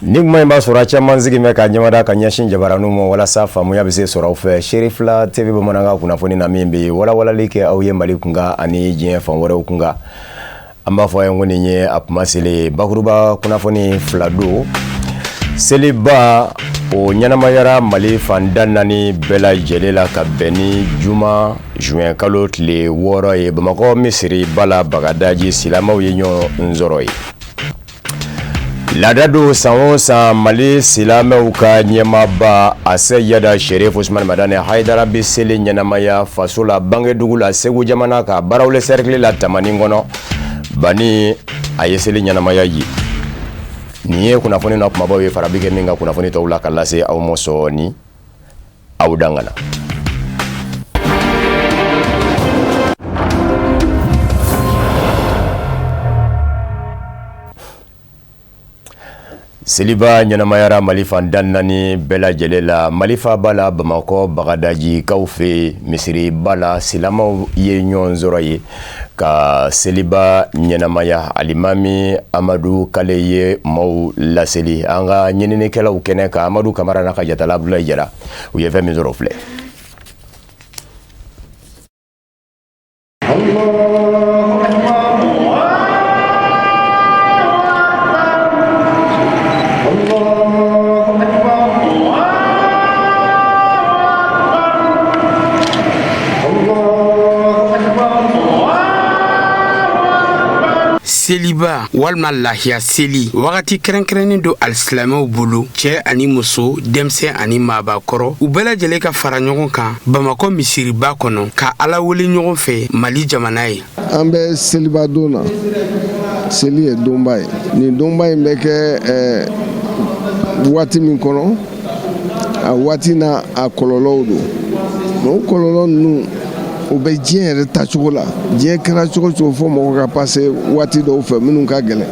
Ni kuma in b'a sɔrɔ a caman sigi bɛ ka ɲɛmada ka ɲɛsin jabaraninw ma walasa faamuya bɛ se sɔrɔ aw fɛ Sherifila TV bamanankan kunnafoni na min bɛ walawalali kɛ aw ye mali kunkan ani diɲɛ fan wɛrɛw kunkan an b'a fɔ aw ye ko nin ye a kuma seli bakuruba kunnafoni fila don seliba o ɲɛnamayara mali fan tan ni naani bɛɛ lajɛlen la ka bɛn ni juma zuwɛnkalo tile wɔɔrɔ ye bamakɔ misiriba la bagadaji silamɛw ye ɲɔgɔn sɔrɔ ye Laada don san o san mali silamɛw ka ɲɛmaaba Aseyada Sherif Usmani Madani Hayidara bɛ seli ɲɛnamaya faso la bangedugu la segu jamana ka Barawili sɛrikili la tamani kɔnɔ ban a ye seli ɲɛnamaya ye nin ye kunnafoni na kumabaw ye fara bɛ kɛ min kan kunnafoni tɔw la ka lase aw ma sɔɔni aw dan kana seliba ɲɛnamayara mali fan tan ni naani bɛɛ lajɛlen la mali faaba la bamakɔ bagadaji kaw fɛ misiriba la silamaw ye ɲɔgɔn sɔrɔ ye ka seliba ɲɛnamaya alimami amadu kale ye maaw laseli an ka ɲininikɛlaw kɛnɛ kan amadu kamara n'a ka jatala abdulayi jara u ye fɛn min sɔrɔ filɛ seliba walima lahiya seli wagati kɛrɛnkɛrɛnnen don alisilamɛw bolo cɛ ani muso denmisɛn ani maabakɔrɔ u bɛɛ lajɛlen ka fara ɲɔgɔn kan bamakɔ misiriba kɔnɔ ka ala wele ɲɔgɔn fɛ mali jamana ye an bɛ seliba don na seli ye donba ye nin donba in bɛ kɛ eh, waati min kɔnɔ a waati n'a kɔlɔlɔw don mais o kɔlɔlɔ ninnu o bɛ diɲɛ yɛrɛ tacogo la diɲɛ kɛra cogo o cogo fo mɔgɔ ka passer waati dɔw fɛ minnu ka gɛlɛn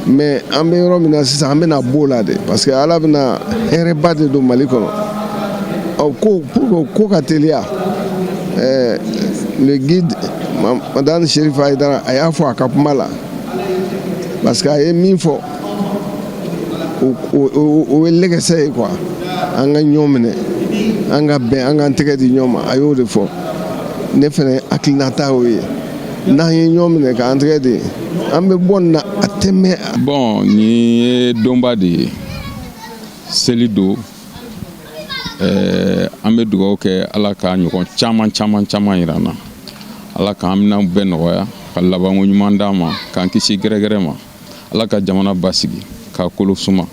mais an bɛ yɔrɔ min na sisan an bɛna bɔ o la de parce que ala bɛna hɛrɛba de don mali kɔnɔ ɔ ko pour que ko ka teliya ɛɛ le guide madani sherif hayidara a y'a fɔ a ka kuma la parce que a ye min fɔ o ye lɛgɛsɛ ye quoi an ka ɲɔgɔn minɛ an ka bɛn an k'an tɛgɛ di ɲɔgɔn ma a y'o de fɔ ne fɛnɛ hakilinata y'o ye n'an ye ɲɔgɔn minɛ k'an tɛgɛ di an bɛ bɔ nin na a tɛ mɛɛn. bon nin ye donba de ye seli don ɛɛ an bɛ dugawu kɛ ala ka ɲɔgɔn caman caman caman yira an na ala k'an minɛnw bɛɛ nɔgɔya ka labanko ɲuman d'an ma k'an kisi gɛrɛgɛrɛ ma. ala ka jamana basigi k'a kolo suma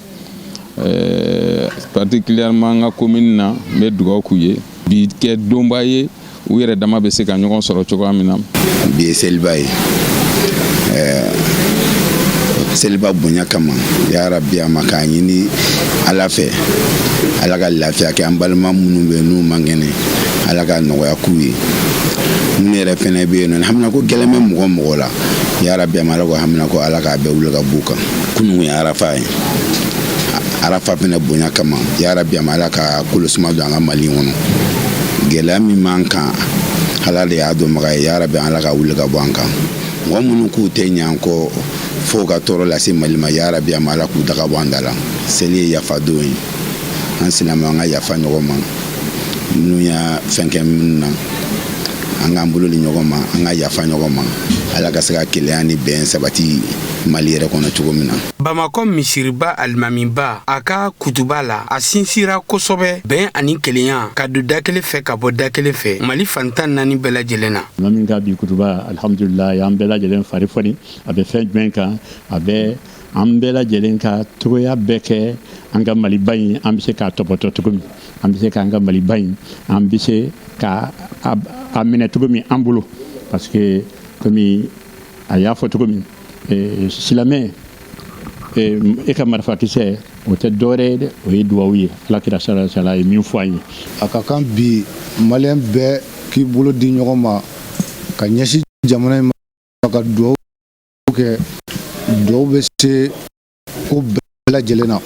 eh, particulièrement an ka komini na n bɛ dugawu k'u ye bi kɛ donba ye u yɛrɛ dama bɛ se ka ɲɔgɔn sɔrɔ cogoya min na bi ye seliba ye eh, seliba bonya kama ya rabi a ma k'a ɲini ala fɛ ala ka lafiya kɛ an balima minnu bɛ n'u man kɛnɛ ala ka nɔgɔya k'u ye minnu yɛrɛ fɛnɛ bɛ yen nɔ haminanko gɛlɛn bɛ mɔgɔ o mɔgɔ la ya rabi a ma ala k'o haminanko ala k'a bɛɛ wuli ka b'u kan kunun ye arafa ye arafa fɛnɛ bonya kama ya rabi a ma ala ka kolosuma don an ka mali kɔnɔ gɛlɛya min b'an kan ala de y'a dɔnbaga ye ya rabi ala k'a wuli ka bɔ an kan mɔgɔ minnu k'u tɛ ɲ'a kɔ fo ka tɔɔrɔ lase mali ma ya rabi a ma ala k'u daga bɔ an da la seli ye yafa don ye an silamɛw an ka yafa ɲɔgɔn ma minnu y'a fɛn kɛ minnu na an k'an bolo di ɲɔgɔn ma an ka yafa ɲɔgɔn ma ala ka se ka kelenya ni bɛn sabati mali yɛrɛ kɔnɔ cogo min na bamakɔ misiriba alimamiba a ka kutuba la a sinsira kosɔbɛ bɛn ani kelenya ka don da kelen fɛ ka bɔ da kelen fɛ mali fan tan ni naani bɛɛ lajɛlen na alimami ka bi kutuba alhamdulilayi an bɛɛ lajɛlen fari foni a bɛ fɛn jumɛn kan a bɛ an bɛɛ lajɛlen ka cogoya bɛɛ kɛ an ka maliba in an bɛ se k'a tɔpɔtɔ cogo min an bɛ se k'an ka maliba in an bɛ se ka a minɛ cogo min an bolo parce que komi a y'a fɔ cogo min eh, silamɛ eh, e ka marifakisɛ o tɛ dɔwɛrɛ ye dɛ o ye duwawu ye ala kira sallallahu alaihi wasallam ye min fɔ an ye a ka kan bi maliyɛn bɛɛ k'i bolo di ɲɔgɔn ma ka ɲɛsin jamana in ma ka duwawu kɛ duwawu bɛ se ko bɛɛ lajɛlen na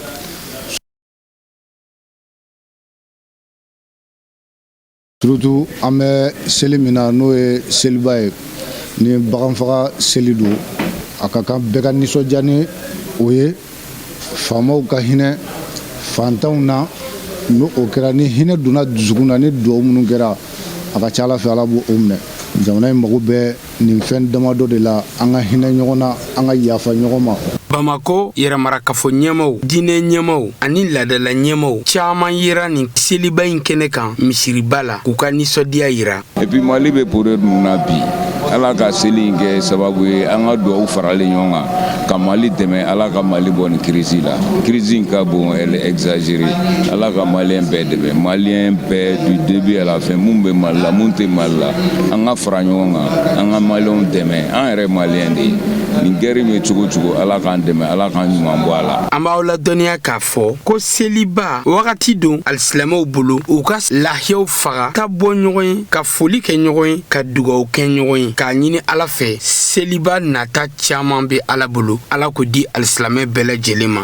surtout an bɛ seli min na n'o ye seliba ye ni bagan faga seli don a ka kan bɛɛ ka nisɔndiya ni o ye faamaw ka hinɛ fantanw na ni o kɛra ni hinɛ donna dusukun na ni duwawu minnu kɛra a ka ca ala fɛ ala b'o o minɛ jamana in mago bɛ nin fɛn damadɔ de la an ka hinɛ ɲɔgɔn na an ka yafa ɲɔgɔn ma bamakɔ yɛrɛmarakafo ɲɛmaw diinɛ ɲɛmaw ani laadala ɲɛmaw caaman yera nin seliba in kɛnɛ kan misiriba la k'u ka nisɔndiya yira epi mali bɛ pore nunu na bi ala ka seli in kɛ sababu ye an ka duwawu faralen ɲɔgɔn kan ka mali dɛmɛ ala ka mali bɔ nin kirisi la kirisi ka bon elle est exagérée ala ka maliyɛn bɛɛ dɛmɛ maliyɛn bɛɛ du debut à la fin mun bɛ mali la mun tɛ mali la an ka fara ɲɔgɔn kan an ka maliyɛnw dɛmɛ an yɛrɛ maliyɛn de ye nin gɛri in bɛ cogo cogo ala k'an dɛmɛ ala k'an ɲuman bɔ a la an b'aw ladɔnniya k'a fɔ ko seliba wagati don alisilamɛw bolo u ka lahiyaw faga ka bɔ ɲɔgɔn ye ka foli kɛ ɲɔgɔn ye ka dugaw kɛ ɲɔgɔn ye k'a ɲini ala fɛ seliba nata caman bɛ ala bolo ala k'o di alisilamɛ bɛɛ lajɛlen ma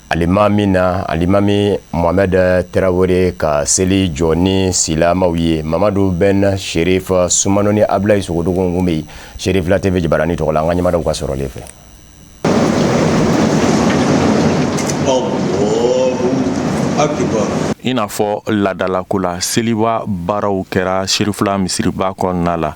Alimami alimami mohamɛdi tarawele ka seli jɔ ni silamɛw ye mamadu bɛn serifu sumano ni abulayi sogodogo kunbɛ serifula TV jabaranin tɔgɔ la an ka ɲɛmadaw ka sɔrɔlen fɛ i n'a fɔ laadala ko la seliba baaraw kɛra serifula misiriba kɔnɔna la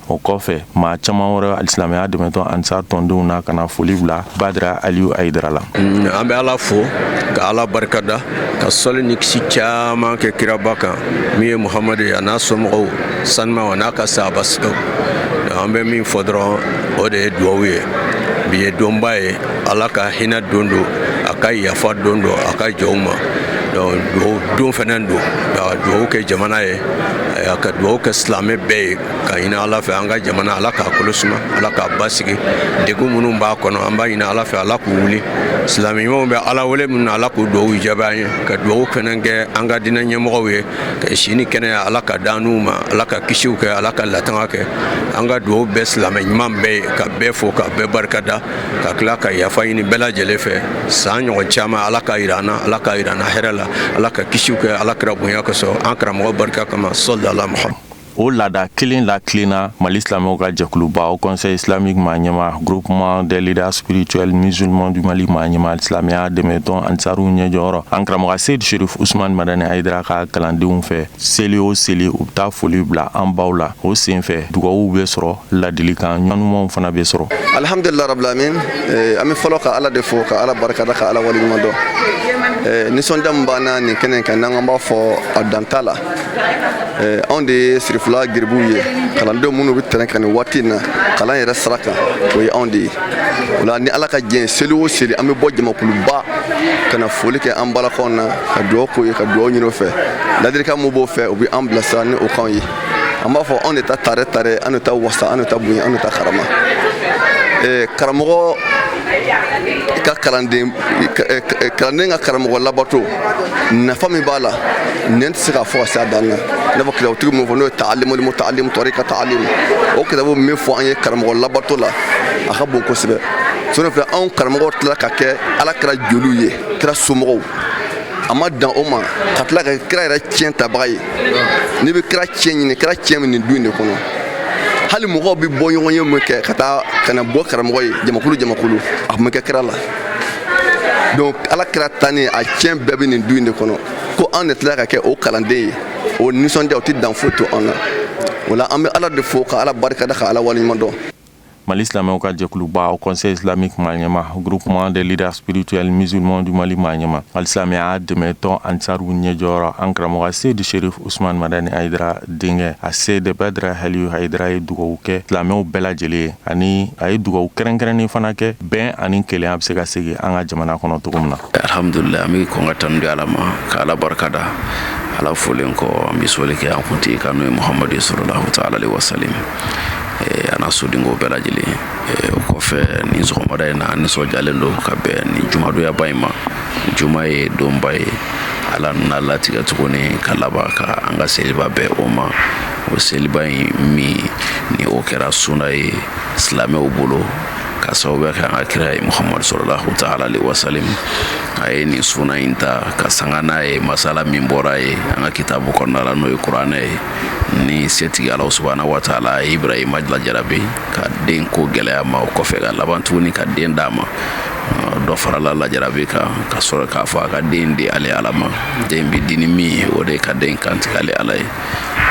o kɔfɛ maa caman wɛrɛ alisilamɛya dɛmɛtɔn ansari tɔndenw na ka na foli bila badra aliu hayidara la mm, an bɛ ala fo ka ala barikada ka sɔli ni kisi caman kɛ kiraba kan min ye muhamadu ye a n'a somɔgɔw sanuma a n'a ka sahaba sɛw an bɛ min fɔ dɔrɔn o de ye duwawu ye bi ye donba ye ala ka hinɛ don don a ka yafa don don a ka jɔnw ma duwawu don fɛnɛ don ka duwawu kɛ jamana ye ka duwawu kɛ silamɛ bɛɛ ye ka ɲini ala fɛ an ka jamana ala k'a kolo suma ala k'a basigi degun minnu b'a kɔnɔ an b'a ɲini ala fɛ ala k'u wuli silamɛ ɲumanw bɛ ala wele min na ala k'u duwawu jaabi an ye ka duwawu fɛnɛ kɛ an ka diinɛ ɲɛmɔgɔw ye ka si ni kɛnɛya ala ka d'an n'u ma ala ka kisiw kɛ ala ka latanga kɛ an ka duwawu bɛ silamɛ ɲuman bɛɛ ye ka bɛɛ fo ka bɛɛ barikada ka tila ka yafa ɲini bɛɛ lajɛlen fɛ san ɲɔgɔn caman ala ka yira an na ala ka yira an na hɛrɛ la ala ka kisiw kɛ ala kira bonya kosɔn an karamɔgɔ barika kama sɔlala muhamadu O laada kelen latilenna mali silamɛw ka jɛkuluba haut conseil islamique maa ɲɛma groupement des leaders spirituels musulmans du mali maa ɲɛma silamɛya dɛmɛtɔn ansaru ɲɛjɔyɔrɔ an karamɔgɔ seyidi serifu usmani madani hayidara ka kalandenw fɛ seli o seli u bɛ taa foli bila an baw la o senfɛ dugawuw bɛ sɔrɔ ladilikan ɲumanw fana bɛ sɔrɔ alihamdulilayi rabili alamin an bɛ fɔlɔ ka ala de fo ka ala barikada ka ala waleɲumandɔn nisɔndiya min b'an na nin kɛnɛ kan n'an b'a fɔ a dan t'a la anw de ye serifula garibuw ye kalandenw minnu bɛ tɛrɛn kan nin waati in na kalan yɛrɛ sira kan o ye anw de ye o la ni ala ka jɛn ye seli o seli an bɛ bɔ jamakuluba ka na foli kɛ an balakaw na ka dugawu k'o ye ka dugawu ɲini o fɛ ladilikan min b'o fɛ u bɛ an bilasira ni o kanw ye an b'a fɔ anw de ta tare tare an de ta wasa an de ta bonya an de ta karama karamɔgɔ ka kalanden ka karamɔgɔ labato nafa min b'a la nin tɛ se ka fɔ ka se a dan na i n'a fɔ kitabutigi min fɔ n'o ye taalimul mutaalimu tɔrika taalimu o kitabu min fɔ an ye karamɔgɔ labato la a ka bon kosɛbɛ sɔrɔ filɛ anw karamɔgɔ tila ka kɛ ala kira joliw ye kira somɔgɔw a ma dan o ma ka tila ka kira yɛrɛ tiɲɛ tabaga ye n'i bɛ kira tiɲɛ ɲini kira tiɲɛ bi nin du in de kɔnɔ hali mɔgɔw bɛ bɔ ɲɔgɔn ye min kɛ ka taa ka na bɔ karamɔgɔ ye jamakulu jamakulu a tun bɛ kɛ kira la donc ala kira tanni a tiɲɛ bɛɛ bɛ nin du in de kɔnɔ ko anw de tila ka kɛ o kalanden ye o nisɔndiya o tɛ dan foyi to an na o la an bɛ ala de fo ka ala barikada ka ala waleɲuman dɔn Mali silamɛw ka jɛkuluba Haut Conseil islamique maɲɛma groupement des leaders spirituels musulmans du Mali maɲɛma alisilamɛya dɛmɛtɔn ansaru ɲɛjɔyɔrɔ an karamɔgɔ Seydi Sherif Ousmane Madani Haïdara denkɛ a Seydi Badara Aliou Haïdara ye dugawu kɛ silamɛw bɛɛ lajɛlen ye ani a ye dugawu kɛrɛnkɛrɛnnen fana kɛ bɛn ani kelenya bɛ se ka segin an ka jamana kɔnɔ cogo min na alihamdulila an bɛ kɔn ka tanu di ala ma ka ala barika da ala folen kɔ an bɛ soli kɛ an kuntigi kan n'o ye muhamadu salalahu taala alehi wasalam eh, an'a sodenko bɛɛ lajɛlen eh, o kɔfɛ nin sɔgɔmada in na an nisɔndiyalen don ka bɛn nin jumadonba in ma juma ye donba ye ala nan'a latigɛ tuguni ka laban ka an ka seliba bɛn o ma o seliba in min ni o kɛra suna ye silamɛw bolo ka sababuya kɛ an ka kira ye muhamadu salalahu taala alehi wasalam a ye nin suna in ta ka sanga n'a ye masala min bɔra ye an ka kitabu kɔnɔna la n'o ye kuranɛ ye ni setigi ala subahana wataala a ye ibrahima lajarabi ka den ko gɛlɛya ma o kɔfɛ ka laban tuguni ka den d'a ma dɔ farala lajarabi kan ka sɔrɔ k'a fɔ a ka den di ale ala ma den bi di ni min ye o de ka den kantigɛ ale ala ye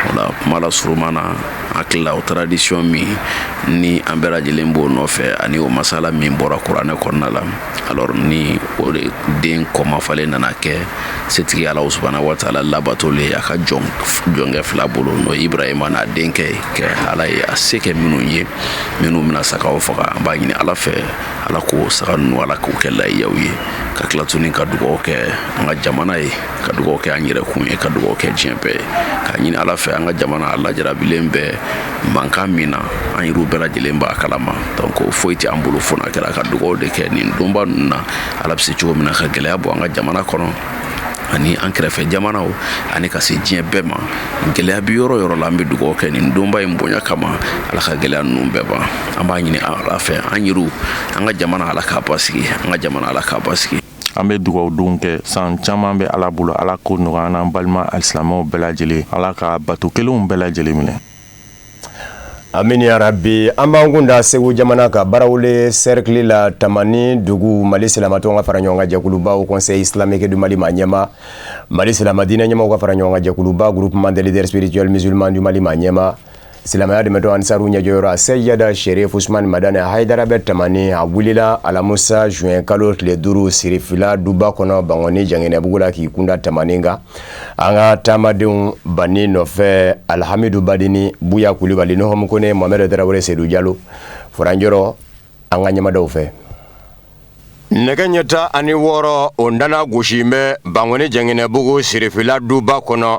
o la kuma la suruman na hakilila o tradition min ni an bɛɛ lajɛlen b'o nɔfɛ ani o masala min bɔra kuranɛ kɔnɔna la alors ni o de den kunmafalen nana kɛ setigi ala subahana wataala labatoli a ka jɔn jɔnkɛ fila bolo n'o ibrahima n'a denkɛ ye kɛ ala ye a se kɛ minnu ye minnu bɛna sagaw faga an b'a ɲini ala fɛ ala k'o saga ninnu ala k'o kɛ layiyaw ye ka tila tuguni ka dugawu kɛ an ka jamana ye ka dugawu kɛ an yɛrɛ kun ye ka dugawu kɛ diɲɛ bɛɛ ye k'a ɲini ala fɛ an ka jamana a lajarabilen bɛ mankan min na an yɛrɛw bɛɛ lajɛlen b'a kalama donc foyi tɛ an bolo fo n'a kɛra ka dugawu de kɛ nin donba ninnu na ala bɛ se cogo min na ka gɛlɛya bɔ an ka jamana kɔnɔ ani an kɛrɛfɛ jamanaw ani ka se diɲɛ bɛɛ ma gɛlɛya bi yɔrɔ o yɔrɔ la an bɛ dugawu kɛ nin donba in bonya kama ala ka gɛlɛya ninnu bɛɛ ban an b'a ɲini ala fɛ an yɛrɛw an ka jamana ala k'a basigi an ka jamana ala k'a basigi an bɛ dugawu don kɛ san caman bɛ ala bolo ala k'o nɔgɔya an n'an balima alisilamɛw bɛɛ lajɛlen ala ka bato kɛlenw bɛɛ lajɛlen minɛ amini ya rabi an b'an kun da segu jamana kan baraweli serikili la tamani dugu mali silamɛtɔnw ka fara ɲɔgɔn kan jɛkuluba haut conseil islamique du mali maa ɲɛmaa mali silamɛdinɛ ɲɛmɔgɔw ka fara ɲɔgɔn kan jɛkuluba groupement des leaders spirituels musulmans du mali maa ɲɛmaa Silamɛya dɛmɛ tɔn ansaru ɲɛjɔyɔrɔ seyida serifu usumani madani hayidara bɛ tamani a wulila alamusa zuwɛn kalo tile duuru sirifila duba kɔnɔ bankoni janginɛbugu la k'i kunda tamani kan an ka taamadenw b'an nɔfɛ alihamidu badini buya kulubali nuhumu kɔnɛ mohamɛdi tarawele sedu jalo furaran yɔrɔ an ka ɲɛmaaw fɛ nɛgɛ ɲɛ tan ni wɔɔrɔ o nana gosi bɛ bankoni janginɛbugu sirifila duba kɔnɔ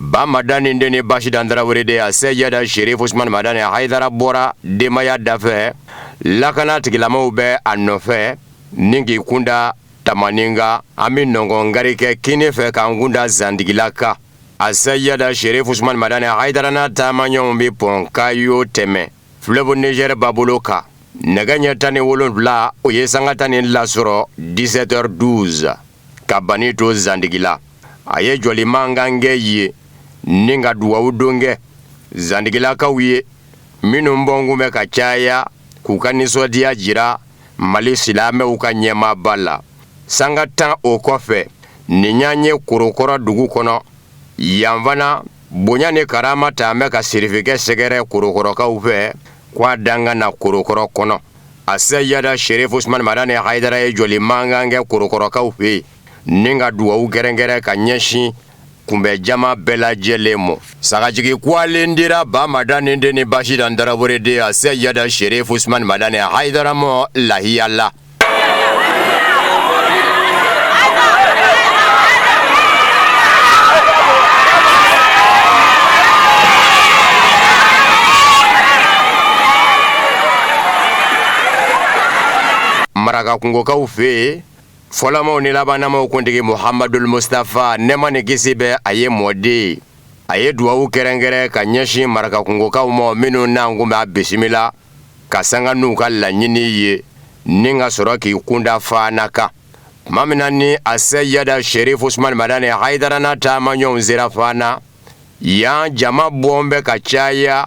Ba madani den ni basitan tarawele den aseyida serifu usumani madani hayidara bɔra denbaya dafɛ lakana tigilamaw bɛ a nɔfɛ ni k'i kunda tamani kan an bɛ nɔnkɔn kari kɛ kinin fɛ k'an kunda zantigila kan aseyida serifu usumani madani hayidara n'a taamaɲɔgɔnw bɛ pɔn kayo tɛmɛ fleuve niger babolo kan nɛgɛ ɲɛ tan ni wolonwula o ye sanga tan ni fila sɔrɔ dix-sept heures douze ka ban to zantigila a ye jɔli mankan kɛ yen ni ka dugawu don kɛ zantigilakaw ye minnu bɔn kun bɛ ka caya k'u ka nisɔndiyaya jira mali silamɛw ka ɲɛmaaba la sanga tan o kɔfɛ nin y'an ye korokɔrɔ dugu kɔnɔ yan fana bonya ni karama taan bɛ ka sirifikɛ sɛgɛrɛ korokɔrɔkaw fɛ k' a dan ka na korokɔrɔ kɔnɔ aseyida serifu usumani madani hayidara ye jɔli mankan kɛ korokɔrɔkaw fɛ yen Nin ka dugawu kɛrɛnkɛrɛn ka ɲɛsin kunbɛn jama bɛɛ lajɛlen ma sagajigi kelen dira ba madani den ni basitan tarawele den aseyida serifu usumani madani hayidara ma lahiya la marakakungokaw fɛ yen fɔlɔmaw ni labannamaw kuntigi Mohamadul Mustafa nɛɛma ni kisi bɛ a ye mɔden a ye dugawu kɛrɛnkɛrɛn ka ɲɛsin marakakungokaw ma minnu naan kun b'a bisimila ka sanga n'u ka laɲini ye ni ka sɔrɔ k'i kunda faana kan tuma min na ni aseyida serifu usumani madani hayidara n'a taamaɲɔgɔnw sera faana yan jama bɔn bɛ ka caya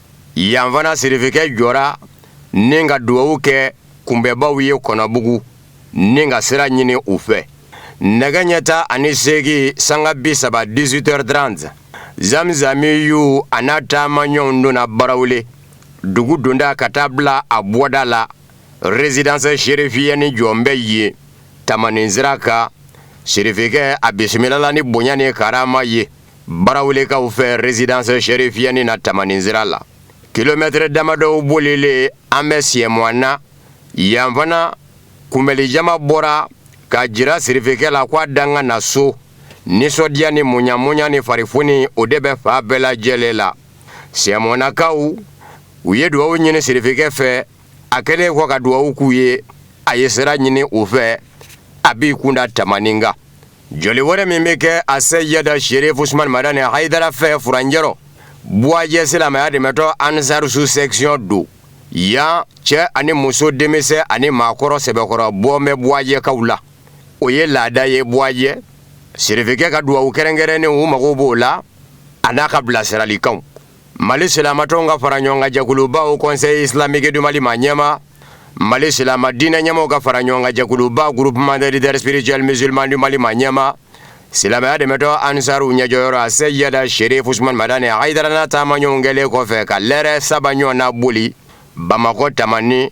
yan fana sirifikɛ jɔra ni ka dugawu kɛ kunbɛnbaw ye kɔnɔbugu ni ka sira ɲini u fɛ nɛgɛ ɲɛ tan ani seegin sanga bi saba dix-huit heures trente zamzamiyu a n'a taamaɲɔgɔnw donna barawuli dugu donda ka taa bila a bɔda la résidence serifiyɛni jɔn bɛ ye tamani sira kan sirifikɛ a bisimilala ni bonya ni karama ye Barawulikaw fɛ résidence serifiyɛni na tamani sira la kilomɛtɛre damadɔ bolilen an bɛ siɛmɔna na yan fana kunbɛnnijama bɔra k'a jira sirifikɛ la ko a danga na so nisɔndiya ni muɲamuɲa ni farifoni o de bɛ fan bɛɛ lajɛlen la siɛmɔnakaw u ye dugawu ɲini sirifikɛ fɛ a kɛlen kɔ ka dugawu k'u ye a ye sira ɲini u fɛ a b'i kunda tamani kan Jɔli wɛrɛ min bɛ kɛ a Seyɛda Serifu Usumani Madani Hayidara fɛ furancɛ rɔ buwajɛ silamɛya dɛmɛtɔn ansaru sous section don yan cɛ ani muso denmisɛn ani maakɔrɔ sɛbɛkɔrɔ bɔ bɛ buwajɛkaw la o ye laada ye buwajɛ sirifikɛ ka dugawu kɛrɛnkɛrɛnnen u mago b'o la a n'a ka bilasiralikanw mali silamatɔnw ka fara ɲɔgɔn kan jɛkuluba haut conseil islamique du mali maa ɲɛma mali silama diinɛ ɲɛmaaw ka fara ɲɔgɔn kan jɛkuluba groupement des leaders spirituels musulmans du mali maa ɲɛma silamɛya dɛmɛtɔn ansaru ɲɛjɔyɔrɔ a Seyɛda Serifu Usumani Madani Hayidara n'a taamaɲɔgɔnw kɛlen kɔfɛ ka lɛrɛ saba ɲɔgɔn na boli bamakɔ tamani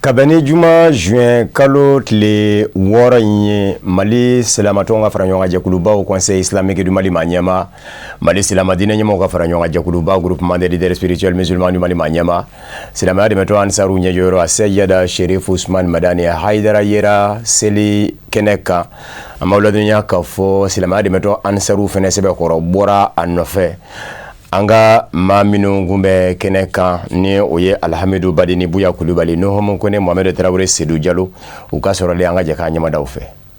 Kabini j zy kalo tile wɔɔrɔ in ye mali siratɔ ka fara ɲɔgɔnjɛkulubaw kɔnɔ se silamɛmɛgɛdi mali ma ɲɛma Mali silamɛ diinɛ ɲɛmɔgɔw ka fara ɲɔgɔn kan jɛkuluba groupement des leaders spirituels musulmans du Mali maa ɲɛma silamɛya dɛmɛtɔn ansaru ɲɛjɔyɔrɔ a Seyɛda Serifu Usumani Madani Hayidara yera seli kɛnɛ kan an b'aw ladɔnniya k'a fɔ silamɛya dɛmɛtɔn ansaru fɛnɛ sɛbɛkɔrɔ bɔra a nɔfɛ an ka maa minnu kun bɛ kɛnɛ kan ni o ye Alihamidu Badini Buya Kulubali Nuhumu Kone Mohamɛdi Tarawele Sedu Jalo u ka sɔrɔlen an ka jɛ k'a ɲɛmadaw fɛ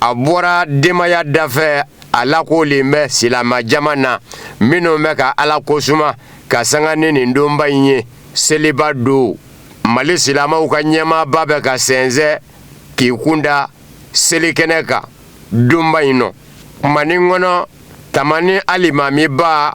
a bɔra denbaya dafɛ a lakoolen bɛ silamɛ jama na minnu bɛ ka ala ko suma ka sanga ni nin donba in ye seliba don mali silamɛw ka ɲɛmaaba bɛ ka sensɛn k'i kunda selikɛnɛ kan donba in nɔ ma kɔnɔ tamani alimamiba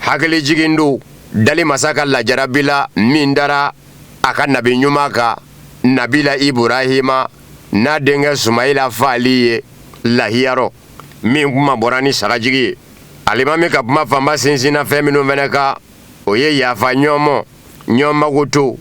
hakili jigin don dali masa ka lajarabi la min dara a ka nabi ɲuman kan nabila iburahima n'a denkɛ sumayila faali ye lahiya rɔ min kunmabɔra ni sagajigi ye alimami ka kuma fanba sinsinna fɛn minnu fana kan o ye yafa ɲɔgɔn ma ɲɔn magoto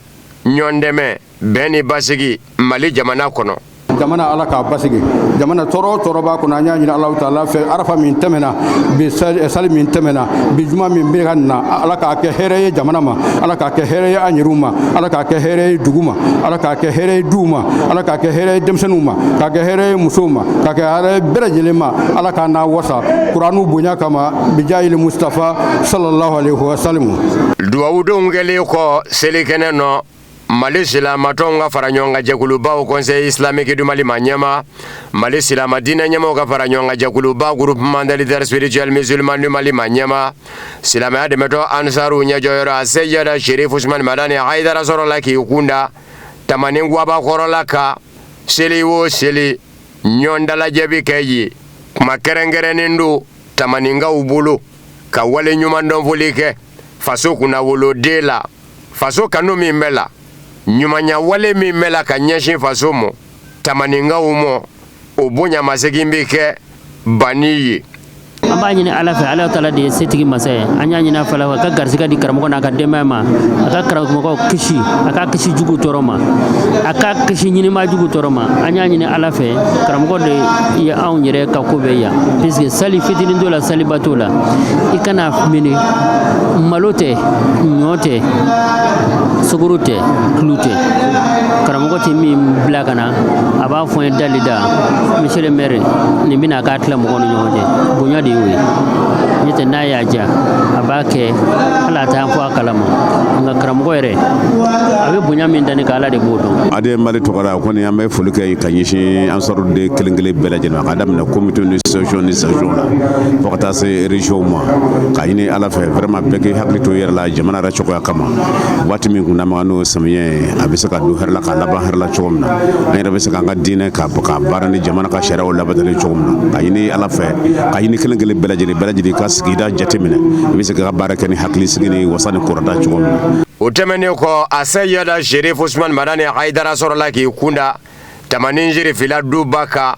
ɲɔn dɛmɛ bɛn ni basigi mali jamana kɔnɔ jamana ala k'a basigi jamana tɔɔrɔ tɔɔrɔ b'a kɔnɔ an y'a ɲini ala taala fɛ arafa min tɛmɛna bi eh, sali min tɛmɛna bi juma min bɛ ka na ala k'a kɛ hɛrɛ ye jamana ma ala k'a kɛ hɛrɛ ye an yɛrɛw ma ala k'a kɛ hɛrɛ ye dugu ma ala k'a kɛ hɛrɛ ye duw ma ala k'a kɛ hɛrɛ ye denmisɛnninw ma k'a kɛ hɛrɛ ye musow ma k'a kɛ hɛrɛ ye bɛɛ lajɛlen ma ala k'a n'a wasa kuranu bonya kama bijayili mustafa sallallahu alaihi wa sallam dugawudonw kɛlen kɔ selikɛnɛ nɔ mali silamatɔnw ka fara ɲɔgɔn kan jɛkuluba haut conseil islamique du mali ma ɲɛma mali silama diinɛ ɲɛmaw ka fara ɲɔgɔn kan jɛkuluba groupement des leaders spirituels musulmans du mali ma ɲɛma silamɛya dɛmɛtɔn ansaru ɲɛjɔyɔrɔ a seyada sherif usmani madani haidara sɔrɔla k'i kun da tamanin guaba kɔrɔ la ka seli o seli ɲɔgɔn dalajɛ bi kɛ yen kuma kɛrɛnkɛrɛnnen don tamaninkaw bolo ka waleɲumandɔn foli kɛ faso kunnawoloden la faso kanu min bɛ la ɲumanya wale min bɛ la ka ɲɛsin faso mɔ tamaninkaw mɔ o bonyamasegin bɛ kɛ bani ye an b'a ɲini ala fɛ ala taala de ye setigi masa ye an y'a ɲini a fɛ a ka garisɛgɛ di karamɔgɔ n'a ka denbaya ma a ka karamɔgɔw kisi a ka kisi jugu tɔɔrɔ ma a ka kisi ɲinima jugu tɔɔrɔ ma an y'a ɲini ala fɛ karamɔgɔ de anw yɛrɛ ka ko bɛɛ yan puisque sali fitinin t'o la saliba t'o la i kana mini malo tɛ ɲɔ tɛ sukaro tɛ tulu tɛ karamɔgɔ tɛ min bila ka na a b'a fɔ n ye dali da monsieur le maire nin bɛna k'a tila mɔgɔw ni ɲɔgɔn cɛ bonya de y'o ye n'o tɛ n'a y'a diya a b'a kɛ hali a t'an fɔ a kalama nka karamɔgɔ yɛrɛ a bɛ bonya min da ne kan ala de b'o dɔn. ADN Mali tɔgɔ la o kɔni an bɛ foli kɛ ka ɲɛsin ansaruden kelen kelen bɛɛ lajɛlen k'a daminɛ comité ni section ni section la fo ka taa se régionw ma ka ɲini ala fɛ vraiment bɛɛ k'i hakili to yɛrɛ la jamana yɛrɛ cogoya kama waati min kun dama n'o samiyɛ ye a bɛ se ka don hɛrɛ la ka laban hɛrɛ la cogo min na an yɛrɛ bɛ se k'an ka diinɛ ka baara ni jamana ka sariyaw labatali cogo min na ka ɲini ala fɛ ka ɲini kelen kelen bɛɛ lajɛlen bɛɛ lajɛlen ka sigida jateminɛ i bɛ se ka baara kɛ ni hakili sigi ni wasa ni kɔrɔta cogo min na o tɛmɛnen kɔ a seyada sherif usmani madani haidara sɔrɔla k'i kunda tamanin serifila duba kan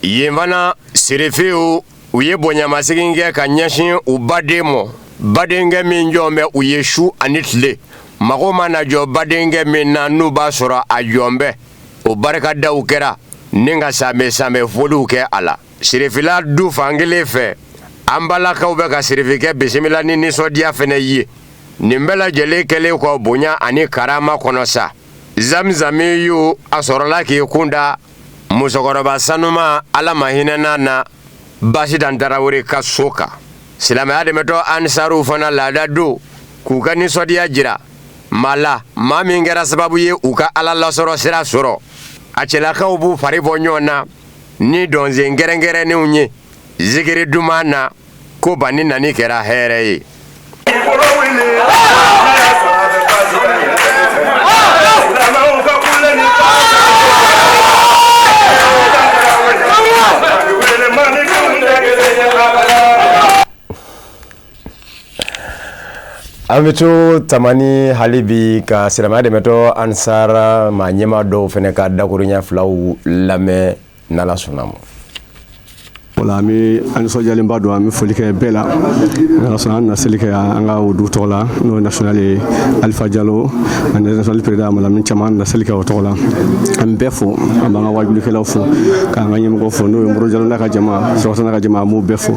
yen fana serifiw u ye bonyamasegin kɛ ka ɲɛsin u baden ma badenkɛ min jɔn bɛ u ye su ani tile mago mana jɔ badenkɛ min na n'u b'a sɔrɔ a jɔn bɛ o barikadaw kɛra ni ka sanbɛ sanbɛ foliw kɛ a la serifila du fan kelen fɛ an balakaw bɛ ka serifikɛ bisimila ni nisɔndiya fana ye nin bɛɛ lajɛlen kɛlen kɔ bonya ani karama kɔnɔ sa zamzami ye a sɔrɔla k'i kun da musokɔrɔba sanuman ala ma hinɛn'a na basitan tarawele ka so kan silamɛya dɛmɛtɔn ansaruw fana laada don k'u ka nisɔndiyaya jira ma la maa min kɛra sababu ye u ka ala lasɔrɔ sira sɔrɔ a cɛlakaw b'u fari bɔ ɲɔgɔn na ni dɔnsen kɛrɛnkɛrɛnnenw ye zikiri duman na ko bani nani kɛra hɛrɛ ye an bɛ to tamani hali bi ka silamɛya dɛmɛtɔn ansaru maa ɲɛmaa dɔw fana ka dakuruɲɛ filaw lamɛn n'ala sɔnn'a ma voilà an bɛ an nisɔndiyalenba don an bɛ foli kɛ bɛɛ la n'ala sɔnna an bɛna seli kɛ an ka o du tɔgɔ la n'o ye national ye alifa jalo ani national président malamin cam an bɛna seli kɛ o tɔgɔ la an bɛ bɛɛ fo an b'an ka wajulikɛlaw fo k'an ka ɲɛmɔgɔ fo n'o ye moro jalo n'a ka jama surafana n'a ka jama an b'u bɛɛ fo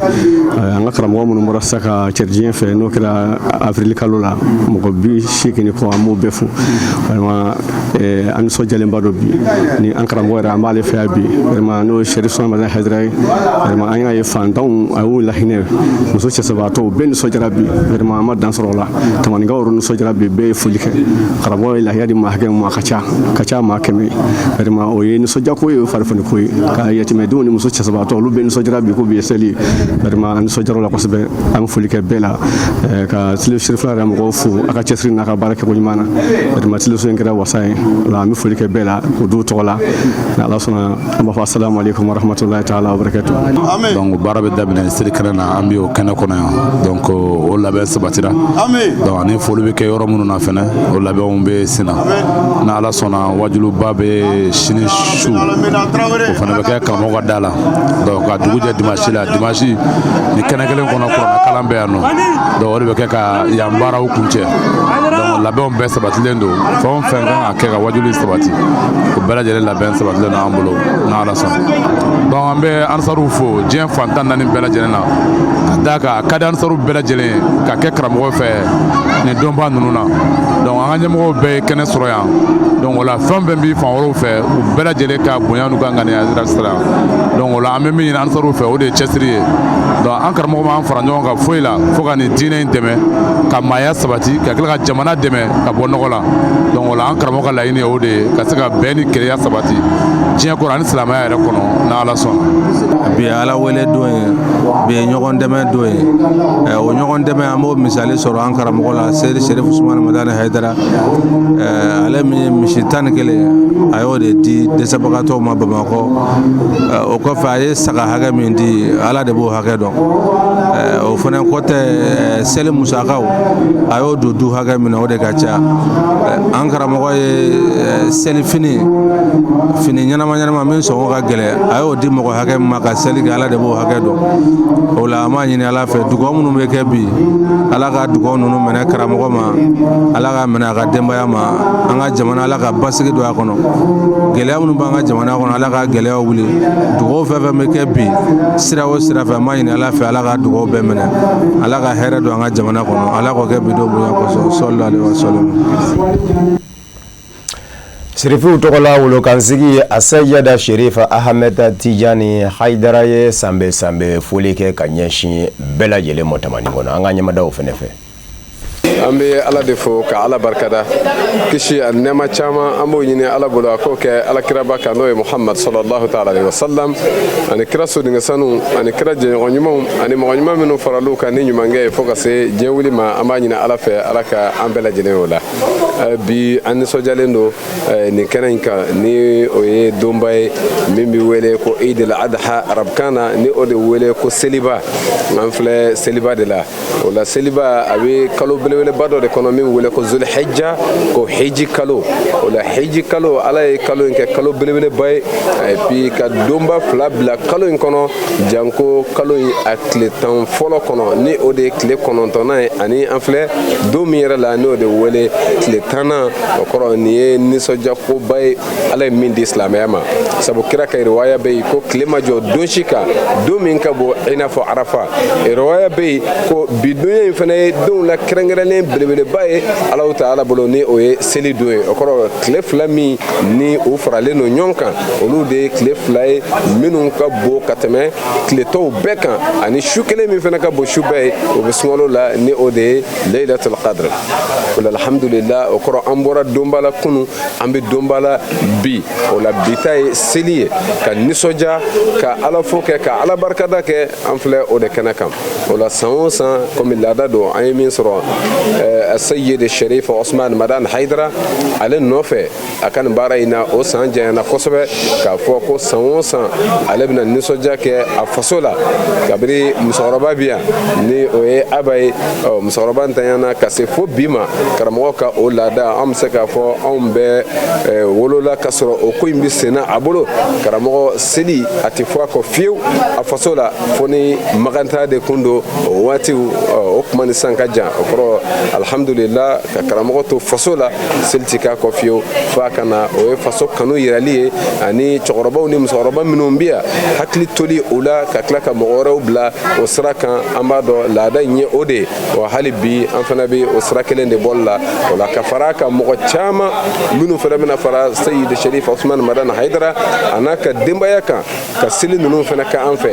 an ka karamɔgɔ minnu bɔra sisan ka cɛri diɲɛ fɛ n'o kɛra avril kalo la mɔgɔ bi seegin ni kɔ an b'u bɛɛ fo Eh, an nisɔndiyalenba don bi ni an karamɔgɔ yɛrɛ an b'ale fɛ yan bi vraiment n'o ye serifu usumani madani hayidara ye vraiment an y'a ye fantanw a y'u lahinɛ muso cɛsabaatɔw bɛɛ nisɔndiyara bi vraiment an ma dan sɔrɔ o la tamanikaw yɛrɛ nisɔndiyara bi bɛɛ ye foli kɛ karamɔgɔ ye lahiya di maa hakɛ min ma a ka ca maa kɛmɛ vraiment o ye nisɔndiyako ye o ye farifoniko ye ka yatimɛdenw ni muso cɛsabaatɔ olu bɛɛ nisɔndiyara bi ko bi ye seli ye vraiment an nisɔndiyara o la kosɛbɛ an bɛ foli kɛ bɛɛ la eh, ka serifila yɛrɛ mɔgɔw fo a ka cɛsiri n'a ka baara kɛko ɲuman na vraiment teleso in kɛra wasa ye o la an bɛ foli kɛ bɛɛ la o duw tɔgɔ la ni ala sɔnna an b'a fɔ asalamu aleykum warahmatulahi taala wabarakatu donc baara bɛ daminɛ seli kɛnɛ na an bɛ o kɛnɛ kɔnɔ yan donc o labɛn sabatira donc ani foli bɛ kɛ yɔrɔ minnu na fɛnɛ o labɛnw bɛ sen na ni ala sɔnna wajuliba bɛ sini su o fana bɛ kɛ karamɔgɔ ka da la donc ka dugu jɛ dimansi la dimansi nin kɛnɛ kelen kɔnɔ kuranɛ kalan bɛ yan nɔ donc o de bɛ kɛ ka yan baaraw kuncɛ labɛnw bɛɛ sabatilen don fɛn o fɛn kan ka kɛ ka wajuli sabati o bɛɛ lajɛlen labɛn sabatilen don an bolo n'ala sɔnna donc an bɛ ansaruw fo diɲɛ fan tan ni naani bɛɛ lajɛlen na ka d'a kan a ka di ansaruw bɛɛ lajɛlen ye ka kɛ karamɔgɔ fɛ nin donba ninnu na donc an ka ɲɛmɔgɔw bɛɛ ye kɛnɛ sɔrɔ yan donc o la fɛn fɛn bɛ fan wɛrɛw fɛ u bɛɛ lajɛlen ka bonya n'u ka ŋaniya sira donc o la an bɛ min ɲini ansaruw fɛ o de ye cɛsiri ye donc an karamɔgɔ b'an fara ɲɔgɔn kan A foyi la fo ka nin diinɛ in dɛmɛ ka maaya sabati ka tila ka jamana dɛmɛ ka bɔ nɔgɔ la donc o la an karamɔgɔ ka laɲini ye o de ye ka se ka bɛn ni kelenya sabati diɲɛ kɔnɔ ani silamɛya yɛrɛ kɔnɔ ni Ala sɔnna bi ye Ala wele don ye bi ye ɲɔgɔn dɛmɛ don ye eh, o ɲɔgɔn dɛmɛ an b'o misali sɔrɔ an karamɔgɔ la Seyidi Serif Usumani Madani Hayidara eh, ale min ye misi tan ni kelen a y'o de di dɛsɛbagatɔw ma Bamakɔ eh, o kɔfɛ a ye saga hakɛ min di Ala de b'o hakɛ dɔn o fana kɔ tɛ seli musakaw a y'o don du hakɛ min na o de ka ca an karamɔgɔ ye seli fini fini ɲɛnama ɲɛnama min sɔngɔ ka gɛlɛn a y'o di mɔgɔ hakɛ min ma ka seli kɛ ala de b'o hakɛ dɔn o la an b'a ɲini ala fɛ dugawu minnu bɛ kɛ bi ala ka dugawu ninnu minɛ karamɔgɔ ma ala ka minɛ a ka denbaya ma an ka jamana ala ka basigi don a kɔnɔ gɛlɛya minnu b'an ka jamana kɔnɔ ala ka gɛlɛyaw wuli dugaw fɛn fɛn bɛ kɛ bi sira o sira fɛ an b'a ɲini ala fɛ ala ka dugaw bɛɛ minɛ ala ka hɛrɛ don an ka jamana kɔnɔ ala k'o kɛ bi don bonya kosɔn sɔlɔlahu alaihi wasalam sirifiw tɔgɔla wolokansigi asɛyada sherifa ahamɛd tijani hayidara ye sanbɛɛ sanbɛɛ foli kɛ ka ɲɛsin bɛɛ lajɛlen ma tamani kɔnɔ an k'an ɲɛmada o fɛnɛ fɛ an bɛ ala de fo ka ala barikada kisi ani nɛɛma caman an b'o ɲini ala bolo a k'o kɛ ala kiraba kan n'o ye muhamad sɔlɔlahu taala alaihi wasalam ani kira sodenkɛ sanu ani kira jɛɲɔgɔn ɲumanw ani mɔgɔ ɲuman minnu farala u kan ni ɲumankɛ ye fo ka se diɲɛ wuli ma an b'a ɲini ala fɛ ala ka an bɛɛ lajɛlen o la bi an nisɔndiyalen don nin kɛnɛ in kan ni o ye donba ye min bɛ wele ko idil adha arabukan na ni o de wele ko seliba an filɛ seliba de la o la seliba a bɛ kalo belebeleba dɔ de kɔnɔ min wele ko zulhijja ko hiji kalo o la hiji kalo ala ye kalo in kɛ kalo belebeleba ye et puis ka donba fila bila kalo in kɔnɔ janko kalo in a tile tan fɔlɔ kɔnɔ ni o de ye tile kɔnɔntɔnnan ye ani an filɛ don min yɛrɛ la n'o de wele tile tannan o kɔrɔ nin ye nisɔndiyakoba ye ala ye min di silamɛya ma sabu kira ka riwaya bɛ yen ko tile ma jɔ don si kan don min ka bon i n'a fɔ arafa riwaya bɛ yen ko bi donya in fana ye donw la kɛrɛnkɛrɛnnen belebeleba ye alahu taala bolo ni o ye seli don ye o kɔrɔ tile fila min ni u faralen don ɲɔgɔn kan olu de ye tile fila ye minnu ka bon ka tɛmɛ tile tɔw bɛɛ kan ani su kelen min fana ka bon su bɛɛ ye o bɛ sunkalo la ni o de ye leilatul qadr o la alhamdulillah o kɔrɔ an bɔra donba la kunu an bɛ donba la bi o la bi ta ye seli ye ka nisɔndiya ka ala fo kɛ ka ala barikada kɛ an filɛ o de kɛnɛ kan o la san o san komi laada don an ye min sɔrɔ eh, sayid sherif usman madan haidara ale nɔfɛ a ka nin baara in na o san janyana kosɛbɛ k'a fɔ ko san o san ale bɛna nisɔndiya kɛ a faso la kabiri musokɔrɔba bi yan ni o ye a ba ye ɔ musokɔrɔba ntanyana ka se fo bi ma karamɔgɔ ka o laada an bɛ se k'a fɔ anw bɛɛ eh, wolola ka sɔrɔ o ko in bɛ senna a bolo karamɔgɔ seli a tɛ fɔ a kɔ fiyewu a faso la fo ni makan taa de kun don o waatiw o kuma ni san ka jan o kɔrɔ alihamudulila ka karamɔgɔ to faso la seli ti k'a kɔ fiyewu fo a ka na o ye faso kanu yirali ye ani cɛkɔrɔbaw ni musokɔrɔba minnu bɛ yan hakili toli o la ka tila ka mɔgɔ wɛrɛw bila o sira kan an b'a dɔn laada in ye o de ye wa hali bi an fana bɛ o sira kelen de bɔli la o la ka fara a kan mɔgɔ caman minnu fana bɛna fara seyidi sherif usman madan haidara a n'a ka denbaya kan ka seli ninnu fana kɛ an fɛ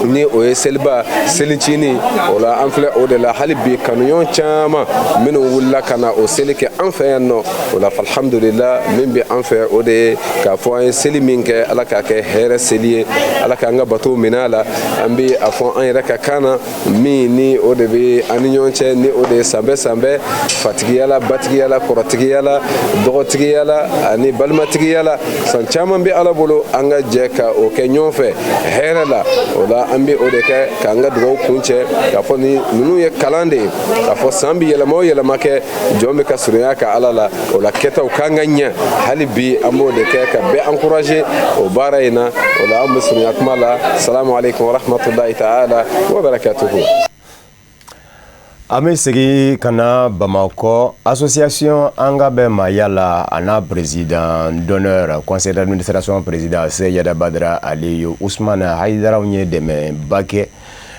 ni o ye seliba selicinin o la an filɛ o de la hali bi kanuɲɔgɔn caman minnu wulila ka na o seli kɛ an fɛ yan nɔ o la alhamdulila min bɛ an fɛ o de ye k'a fɔ an ye seli min kɛ ala k'a kɛ hɛrɛ seli ye ala k'an ka bato minɛ a la an bɛ a fɔ an yɛrɛ ka kan na min ni o de bɛ an ni ɲɔgɔn cɛ ni o de ye sanbɛ sanbɛ fatigiya la batigiya la kɔrɔtigiya la dɔgɔtigiya la ani balimatigiya la san caman bɛ ala bolo an ka jɛ ka o kɛ ɲɔgɔn fɛ hɛrɛ la o la an bɛ o de kɛ k'an ka dugawu kuncɛ k'a fɔ ni ninnu ye kalan de ye k'a fɔ san bɛ yɛlɛma o yɛlɛma kɛ jɔn bɛ ka surunya ka ala la o la kɛtaw kan ka ɲɛ hali bi an b'o de kɛ ka bɛɛ encourager o baara in na o la an bɛ surunya kuma la salamu aleykum warahmatulahi taala wabarakatuhu an bɛ segin ka na bamakɔ association an ka bɛn maaya la a n'a président d'honneur conseil d'administration président seyada badara aliyu usumana hayidara u ye dɛmɛba kɛ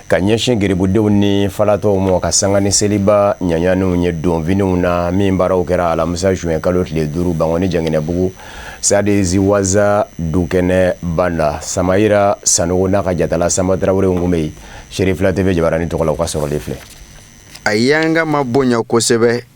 ka ɲɛsin garibudenw ni falatɔw ma ka sanga ni seliba ɲanyanw ye donfiniw na min baaraw kɛra alamisa juin kalo tile duuru bankɔni janginɛbugu sadi ziwaza dukɛnɛba na samayira sanɔgɔ n'a ka jatala samba tarawele u tun bɛ yen sherifila tv jabaranin tɔgɔ la u ka sɔrɔlen filɛ a y'an ka ma bonya kosɛbɛ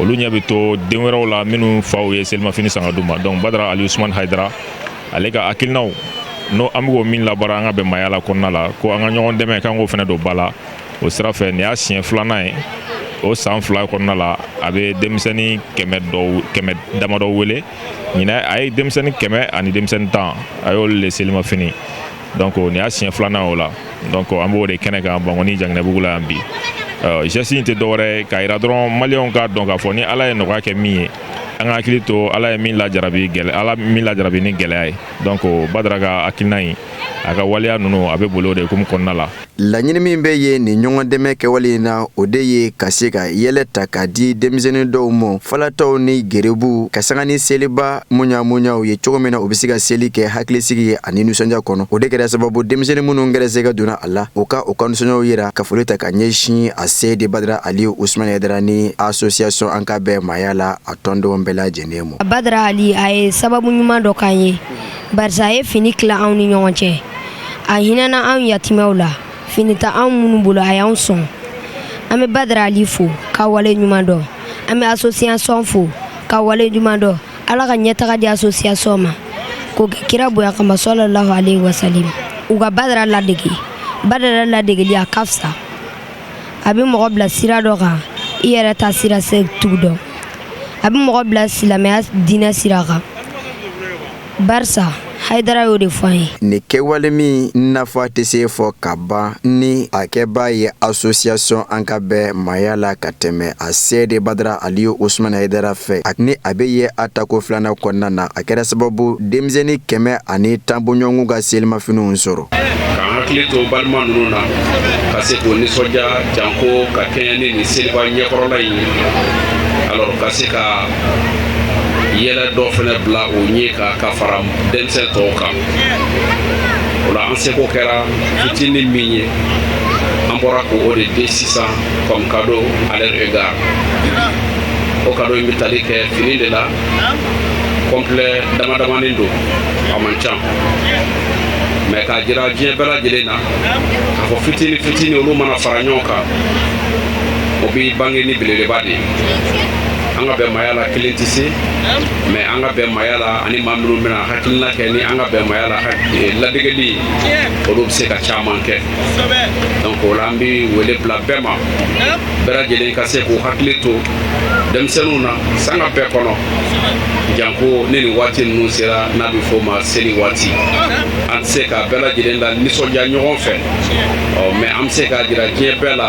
olu ɲɛ bɛ to den wɛrɛw la minnu faw ye selimafini san k'a d'u ma donc badara ali usman haidara ale ka hakilinaw n'o an bɛ ko min labaara an ka bɛn maaya la kɔnɔna la ko an ka ɲɔgɔn dɛmɛ k'an k'o fana don ba la o sira fɛ nin y'a siɲɛ filanan ye o san fila kɔnɔna la a bɛ denmisɛnnin kɛmɛ damadɔ wele ɲinan a ye denmisɛnnin kɛmɛ ani denmisɛnnin tan a y'olu le selimafini donc nin y'a siɲɛ filanan o la donc an b'o de kɛnɛ kan bankoni janginɛbugu la yan bi geste in tɛ dɔwɛrɛ k'a yira dɔrɔn maliyɛnw k'a dɔn k'a fɔ ni ala ye nɔgɔya kɛ min ye an ka hakili to ala ye min lajarabi gɛlɛ ala min lajarabi ni gɛlɛya ye donc badara ka hakilina in a ka waleya ninnu a bɛ boli o de hukumu kɔnɔna la Laɲini min bɛ ye nin ɲɔgɔn dɛmɛ kɛwale in na o de ye ka se ka yɛlɛ ta ka di denmisɛnnin dɔw ma falatɔw ni gerebuw ka sanga ni seliba muɲamuɲaw ye cogo min na u bɛ se ka seli kɛ hakilisigi ye ani nisɔndiya kɔnɔ o de kɛra sababu denmisɛnnin minnu gɛrɛsɛgɛ donna a la u ka u ka nisɔndiyaw yira ka foli ta ka ɲɛsin aseyidi badara ali usumani hayidara ni association an ka bɛn maaya la a tɔndenw bɛɛ lajɛlen ma badara ali a ye sababu ɲuman dɔ k'an ye barisa a ye fini tila anw ni ɲɔgɔn cɛ a hinɛna anw yatimɛw la fini t'anw minnu bolo a y'anw sɔn an bɛ badara ali fo ka wale ɲuman dɔn an bɛ association fo ka wale ɲuman dɔn ala ka ɲɛtaga di association ma k'o kɛ kira bonya kama salalahu alayhi wa salim u ka badara ladege badara ladegeli a ka fisa a bɛ mɔgɔ bila sira dɔ kan i yɛrɛ t'a sira se tugu dɔn a bɛ mɔgɔ bila silamɛya diinɛ sira kan barisa hayidara y'o de fɔ an ye nin kɛwale min nafa tɛ se fɔ ka ban ni a kɛbaa ye association an ka bɛn maaya la ka tɛmɛ aseyidi badara ali usumani hayidara fɛ ni a bɛ ye a tako filanan kɔnɔna na a kɛra sababu denmisɛnnin kɛmɛ ani tan bɔɲɔgɔnw ka selimafiniw sɔrɔ k'an hakili to balima ninnu na ka se k'u nisɔndiya janko ka kɛɲɛ ni nin seliba ɲɛkɔrɔla in ye alors ka se ka yɛlɛ dɔ fana bila u ɲɛ kan ka fara denmisɛn tɔw kan o la an seko kɛra fitinin min ye an bɔra k'o de di sisan comme cadeau à leur égard o cadeau in bɛ tali kɛ fini de la complet damadamanin don a man ca mais k'a jira diɲɛ bɛɛ lajɛlen na k'a fɔ fitini fitini olu mana fara ɲɔgɔn kan o bɛ bange ni belebeleba de ye an ka bɛn maaya la kelen tɛ se mais an ka bɛn maaya la ani maa minnu bɛna hakilina kɛ ni an ka bɛn maaya la eh, ladegeli olu bɛ se ka caman kɛ donc o la an bɛ wele bila bɛɛ ma bɛɛ lajɛlen ka se k'u hakili to denmisɛnninw na sanga bɛɛ kɔnɔ janko ni nin waati ninnu sera n'a bɛ fɔ ma seli waati an tɛ se ka bɛɛ lajɛlen lanisɔndiya ɲɔgɔn fɛ ɔ mais an bɛ se k'a jira diɲɛ bɛɛ la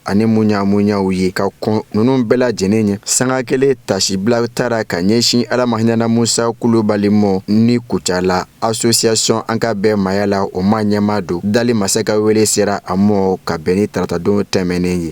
ani munyamunyaw ye ka kɔn ninnu bɛɛ lajɛlen ɲɛ sanga kelen taasibila taara ka ɲɛsin ala ma hin'a na musa kulubali ma ni kucala asosiyasɔn an ka bɛɛ maya la o maa ɲɛmaa don dali masa ka wele sera a ma ka bɛn ni taratadon tɛmɛnen ye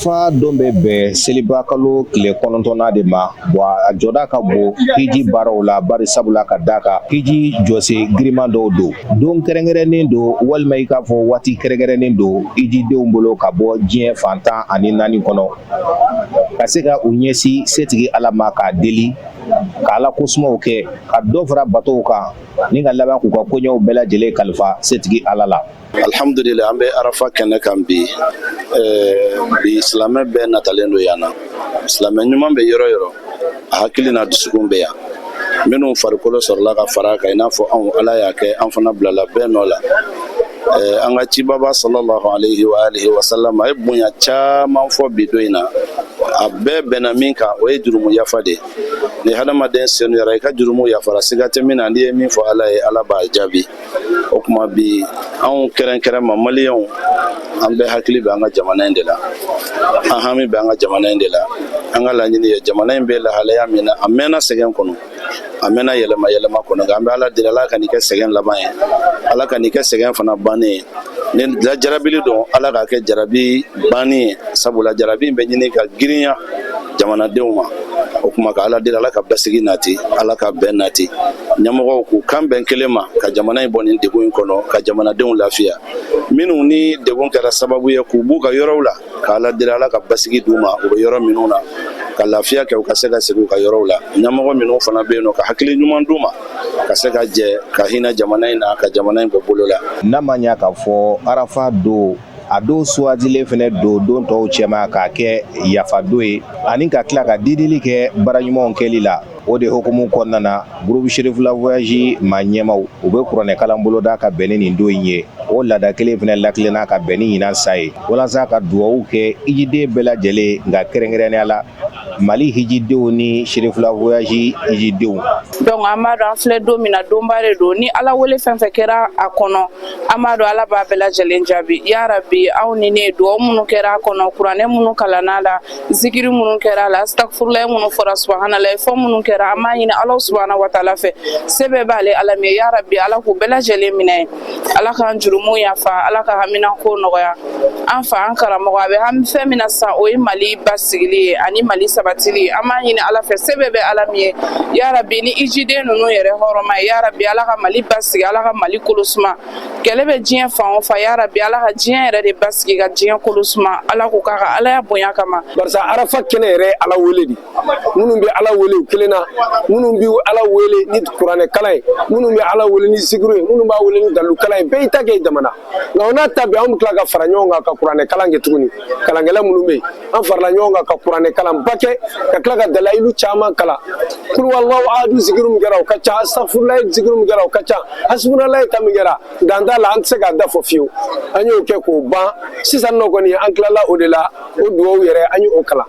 Fa don bɛ bɛn seliba kalo tile kɔnɔntɔnna de ma wa a jɔda ka bon hiji baaraw la bari sabula ka d'a kan hiji jɔsen girinman dɔw don don kɛrɛnkɛrɛnnen don walima i k'a fɔ waati kɛrɛnkɛrɛnnen don hijidenw bolo ka bɔ diɲɛ fan tan ani naani kɔnɔ ka se ka u ɲɛsin setigi ala ma k'a deli ka ala ko sumaw kɛ ka dɔ fara batow kan ni ka laban k'u ka koɲɛw bɛɛ lajɛlen kalifa setigi ala la Alihamdulila an bɛ arafa kɛnɛ kan bi bi silamɛ bɛɛ natalen don yan na silamɛ ɲuman bɛ yɔrɔ yɔrɔ a hakili n'a dusukun bɛ yan minnu farikolo sɔrɔla ka fara kan i n'a fɔ anw ala y'a kɛ an fana bilala bɛɛ nɔ la an ka cibaba sallallahu alayhi wa alihi wa sallam ye bonya caman fɔ bi don in na a bɛɛ bɛnna min kan o ye jurumu yafa de ni hadamaden senuyara i ka jurumu yafara siga tɛ min na n'i ye min fɔ ala ye ala b'a jaabi o kuma bi anw kɛrɛnkɛrɛn ma maliyɛnw an bɛɛ hakili bɛ an ka jamana in de la an hami bɛ an ka jamana in de la an ka laɲini ye jamana in bɛ lahalaya min na a mɛnna sɛgɛn kɔnɔ a mɛnna yɛlɛma yɛlɛma kɔnɔ nka an bɛ ala deli ala ka nin kɛ sɛgɛn laban ye ala ka nin kɛ sɛgɛn fana bannen ye ni jarabili don ala k'a kɛ jarabi bannen ye sabula jarabi in bɛ ɲini ka girinya jamanadenw ma o kuma ka ala deli ala ka basigi nati ala ka bɛn nati ɲɛmɔgɔw k'u kan bɛn kelen ma ka jamana in bɔ nin degun in kɔnɔ ka jamanadenw lafiya minnu nin degun kɛra sababu ye k'u b'u ka yɔrɔw la ka ala deli ala ka basigi d'u ma u bɛ yɔrɔ minnu na ka lafiya kɛ u ka se ka segin u ka yɔrɔw la ɲɛmɔgɔ minnu fana bɛ yen nɔ ka hakili ɲuman d'u ma ka se ka jɛ ka hinɛ jamana in na ka jamana in bɔ bolo la n'a ma ɲa k'a fɔ arafa don a don suwandilen fɛnɛ don don tɔw cɛma k'a kɛ yafa don ye ani ka tila ka didili kɛ baara ɲumanw kɛli la o de hukumu kɔnɔna na groupe Cherifla Voyage maa ɲɛmaw u bɛ kuranɛkalan boloda ka bɛn ni nin don in ye o laada kelen fɛnɛ lakilenna ka bɛn ni ɲinan san ye walasa ka dugawuw kɛ hijiden bɛɛ lajɛlen ye nka kɛrɛnkɛrɛnnenya la mali hijidenw ni Cherifla Voyage hijidenw donc an b'a dɔn an filɛ don min na donba de don ni ala wele fɛn fɛn kɛra a kɔnɔ an b'a dɔn ala b'a bɛɛ lajɛlen jaabi ya rabi aw ni ne dugawu minnu kɛra a kɔnɔ kuranɛ minnu kalanna a la zikiri minnu kɛra a la astagfurulayi minnu fɔra subahanalayi fɔ minnu kɛra an b'a ɲini alahu subahana wataala fɛ se bɛɛ b'ale ala min ye ya rabi ala k'u bɛɛ lajɛlen minɛ ala k'an jurumu yafa ala ka haminako nɔgɔya an fa an karamɔgɔ a bɛ hami fɛn min na sisan o ye mali basigili ye ani mali sabatili ye an b'a ɲini ala fɛ se bɛɛ bɛ ala min ye yarabi ni hijiden ninnu yɛrɛ hɔrɔma ye yarabi ala ka mali basigi ala ka mali kolosuma kɛlɛ bɛ diɲɛ fan o fan yarabi ala ka diɲɛ yɛrɛ de basigi ka diɲɛ kolosuma ala k'o kɛ a ka alaya bonya kama barisa arafa kɛnɛ yɛrɛ ala wele de minnu bɛ ala wele u kelen na minnu bɛ ala wele ni kuranɛkalan ye minnu bɛ ala wele ni zikiri ye minnu b'a wele ni dalayilu kalan ye bɛɛ y'i ta kɛ dama na nka o n'a ta bɛɛ an bɛ tila ka fara ɲɔgɔn kan ka kuranɛkalan kɛ tuguni kalankɛla minnu bɛ yen an farala ɲɔgɔn kan ka kuranɛkalanba kɛ ka tila ka dalayilu caman kalan kuluhuwalahu ahadu zikiri min kɛra o ka ca asitafurulayi zikiri min kɛra o ka ca hasibunalayi ta min kɛra dan t'a la an tɛ se k'a da fɔ fiyewu an y'o kɛ k'o ban sisan nɔ kɔni an tilala o de la o dugawu yɛrɛ an y'o kalan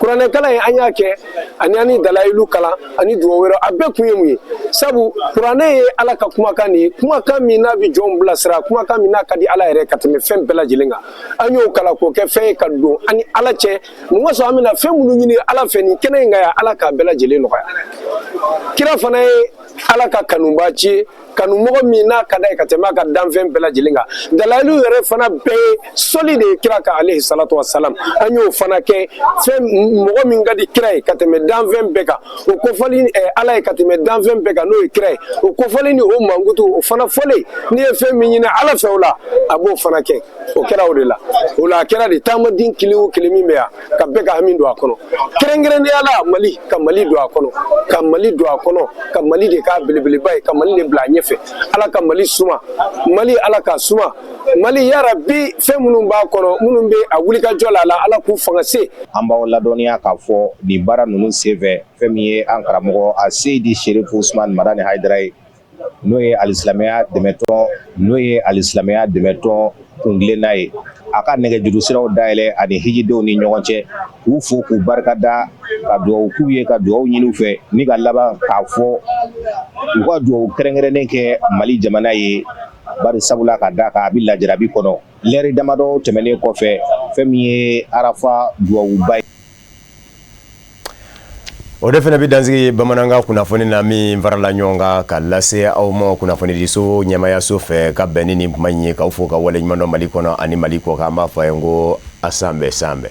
kuranɛkalan ye an y'a kɛ ani ani dalayilu kalan ani dugawu wɛrɛ a bɛɛ kun ye mun ye sabu kuranɛ ye ala ka kumakan de ye kumakan min n'a bɛ jɔnw bilasira kumakan min n'a ka di ala yɛrɛ ka tɛmɛ fɛn bɛɛ lajɛlen kan an y'o kalan k'o kɛ fɛn ye ka don an ni ala cɛ mun ka sɔrɔ an bɛna fɛn minnu ɲini ala fɛ nin kɛnɛ in kan yan ala k'a bɛɛ lajɛlen nɔgɔya kira fana ye ala ka kanubaanci ye kanumɔgɔ min n'a ka d'a ye ka tɛmɛ a ka danfɛn bɛɛ lajɛlen kan dalayilu yɛrɛ fana bɛɛ ye sɔli de ye kira kan alehi salatu wasalam an y'o fana kɛ fɛn mɔgɔ min ka di kira ye ka tɛmɛ danfɛn bɛɛ kan o kofɔli eh, ala ye ka tɛmɛ danfɛn bɛɛ kan n'o ye kira ye o kofɔli ni o mankutu o fana fɔlen n'i ye fɛn min ɲini ala fɛ o la a b'o fana kɛ o kɛra o de la o la a kɛra de taamaden kelen o kelen min bɛ yan ka bɛɛ ka hami don a kɔnɔ kɛrɛnkɛrɛnnenya la mali ka mali don a kɔnɔ ka mali don a kɔnɔ ka mali de k'a belebeleba ye ka mali de bila a ɲɛfɛ ala ka mali suma mali ala ka suma mali yarabi fɛn minnu b'a kɔnɔ minnu bɛ a wulikajɔ la la ala k'u fanga se an b'aw ladɔnniya k'a fɔ nin baara ninnu senfɛ fɛn min ye an karamɔgɔ a seyidi serifu usman madani hayidara ye n'o ye alisilamɛya dɛmɛtɔn n'o ye alisilamɛya dɛmɛtɔn kuntilenna ye a ka nɛgɛjuru siraw dayɛlɛn ani hijidenw ni ɲɔgɔn cɛ k'u fo k'u barika da ka dugawu k'u ye ka dugawu ɲini u fɛ ni ka laban k'a fɔ u ka dugawu kɛrɛnkɛrɛnnen kɛ mali jamana ye bari sabula ka da kan a bɛ lajarabi kɔnɔ lɛri damadɔ tɛmɛnen kɔfɛ fɛn min ye arafa dugawuba ye O de fana bɛ dan sigi bamanankan kunnafoni na min farala ɲɔgɔn kan ka lase aw ma kunnafonidiso ɲɛmaayaso fɛ ka bɛn ni nin kuma in ye k'aw fo k'aw waleɲumandɔn mali kɔnɔ ani mali kɔ kan an b'a fɔ a ye n ko a sanbɛɛ sanbɛɛ